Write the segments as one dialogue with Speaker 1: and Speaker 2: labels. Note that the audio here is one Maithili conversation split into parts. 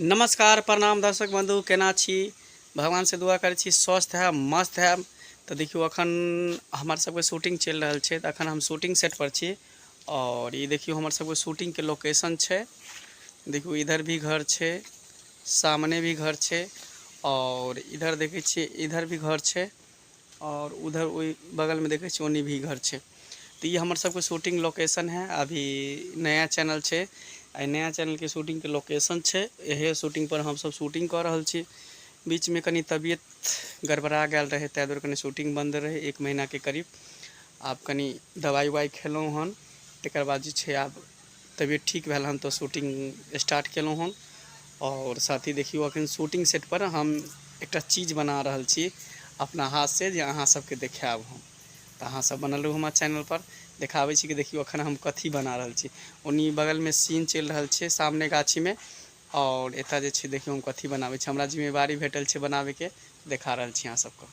Speaker 1: नमस्कार प्रणाम दर्शक बंधु केना छी भगवान से दुआ करै छी स्वस्थ है मस्त है तो देखियो अखन हमार सबके शूटिंग चल रहा है तो अखन हम शूटिंग सेट पर छी और ये देखियो हमार सबके शूटिंग के लोकेशन है देखियो इधर भी घर है सामने भी घर है और इधर देखे इधर भी घर है आओर उधर ओहि बगलमे देखै छियै ओन्नी भी घर छै तऽ ई हमर सबके शूटिंग लोकेशन है अभी नया चैनल छै एहि नया चैनलके शूटिंगके लोकेशन छै इहे शूटिंग पर हमसब शूटिंग कऽ रहल छी बीचमे कनि तबियत गड़बड़ा गेल रहै ताहि दुआरे कनि शूटिंग बन्द रहै एक महीनाके करीब आब कनि दबाइ उबाइ खेलहुँ हन तेकर बाद जे छै आब तबियत ठीक भेल हन तऽ शूटिंग स्टार्ट केलहुँ हन आओर साथी देखियौ अखन शूटिंग सेट पर हम एकटा चीज बना रहल छी अपना हाथ से जे अहाँ सबके देखायब हम तऽ अहाँ सब बनल रहू हमरा चैनल पर देखाबै छी कि देखियौ अखन हम कथी बना रहल छी ओनी बगलमे सीन चलि रहल छै सामने गाछीमे आओर एतऽ जे छै देखियौ हम कथी बनाबै छी हमरा जिम्मेवारी भेटल छै बनाबैके देखा रहल छी अहाँ सबके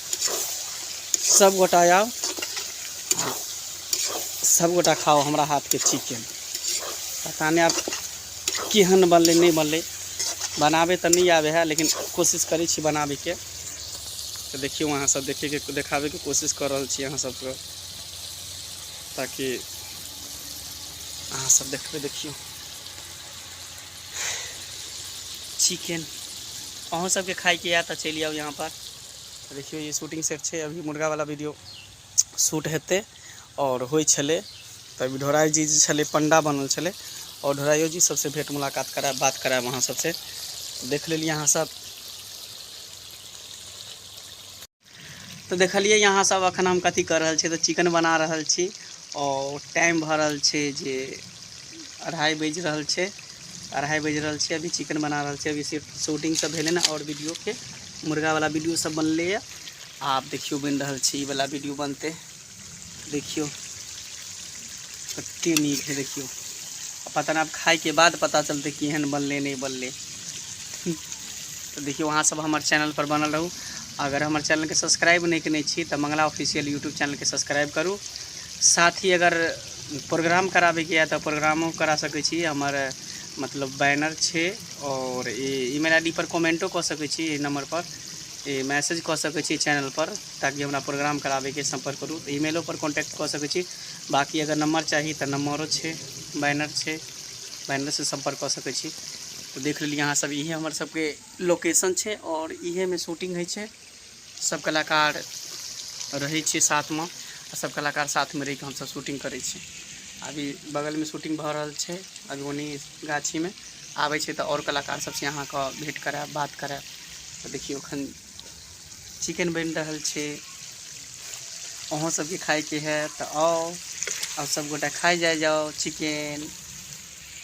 Speaker 1: सब गोटा आओ सब गोटा खाओ हमरा हाथ के चिकेन पता नहीं आप केहन बनलै नहीं बनलै बनाबे तो नहीं आवे है लेकिन कोशिश करै छी बनाबैके तो देखियो अहाँ सब देखे के देखाबे के कोशिश कर रहल छी अहाँ सबके ताकि अहाँ सब देखबे देखियो चिकेन अहूँ सबके खाइके यऽ तऽ चलि आउ यहाँ पर देखियौ ई शूटिंग सेट छै अभी मुर्गावला वीडियो शूट हेतै आओर होइ छलै तऽ अभी ढोराइ जी जे छलै पण्डा बनल छलै आओर ढोराइयो जी सबसँ भेट मुलाकात करायब बात करायब अहाँ सबसँ देख लेलियै अहाँ सब तऽ देखलियै अहाँ सब अखन हम कथी कर रहल छी तऽ चिकन बना रहल छी आओर टाइम भऽ रहल छै जे अढ़ाइ बाजि रहल छै अढ़ाइ बाजि रहल छै अभी चिकन बना रहल छै अभी शूटिंग सब भेलै ने आओर वीडियोके मुर्गावला वीडियो सब बनलैए आब देखियौ बनि रहल छै ईवला वीडियो बनतै देखियौ कतेक नीक है देखियौ पता नहि आब खाइके बाद पता चलतै केहन बनलै नहि बनलै तऽ देखियौ अहाँसभ हमर चैनलपर बनल रहू अगर हमर चैनलके सब्सक्राइब नहि कयने छी तऽ मंगला ऑफिशियल यूट्यूब चैनलके सब्सक्राइब करू साथ ही अगर प्रोग्राम कराबैके यए तऽ प्रोग्रामो करा सकै छी हमर मतलब बैनर छै आओर ई ईमेल आई डी पर कमेंटो कऽ सकैत छी एहि नंबर पर ई मैसेज कऽ सकैत छी चैनल पर ताकि हमरा प्रोग्राम कराबैके संपर्क करू तऽ ईमेलो पर कॉन्टैक्ट कऽ सकैत छी बाकी अगर नंबर चाही तऽ नंबरो छै बैनर छै बैनर से संपर्क कऽ सकैत छी तऽ देख लेलियै अहाँ सब इहे हमर सबके लोकेशन छै आओर इहे मे शूटिंग होइ छै सब कलाकार रहै छियै साथमे आ सब कलाकार साथमे रहिके हमसब शूटिंग करै छी अभी बगलमे शूटिंग भऽ रहल छै अभी ओनी गाछीमे आबै छै तऽ आओर कलाकार सबसँ अहाँके भेंट करायब बात करायब तऽ देखियौ एखन चिकेन बनि रहल छै अहूँ सबके खायके है तऽ आउ आओर सब गोटा खाइ जाइ जाउ चिकेन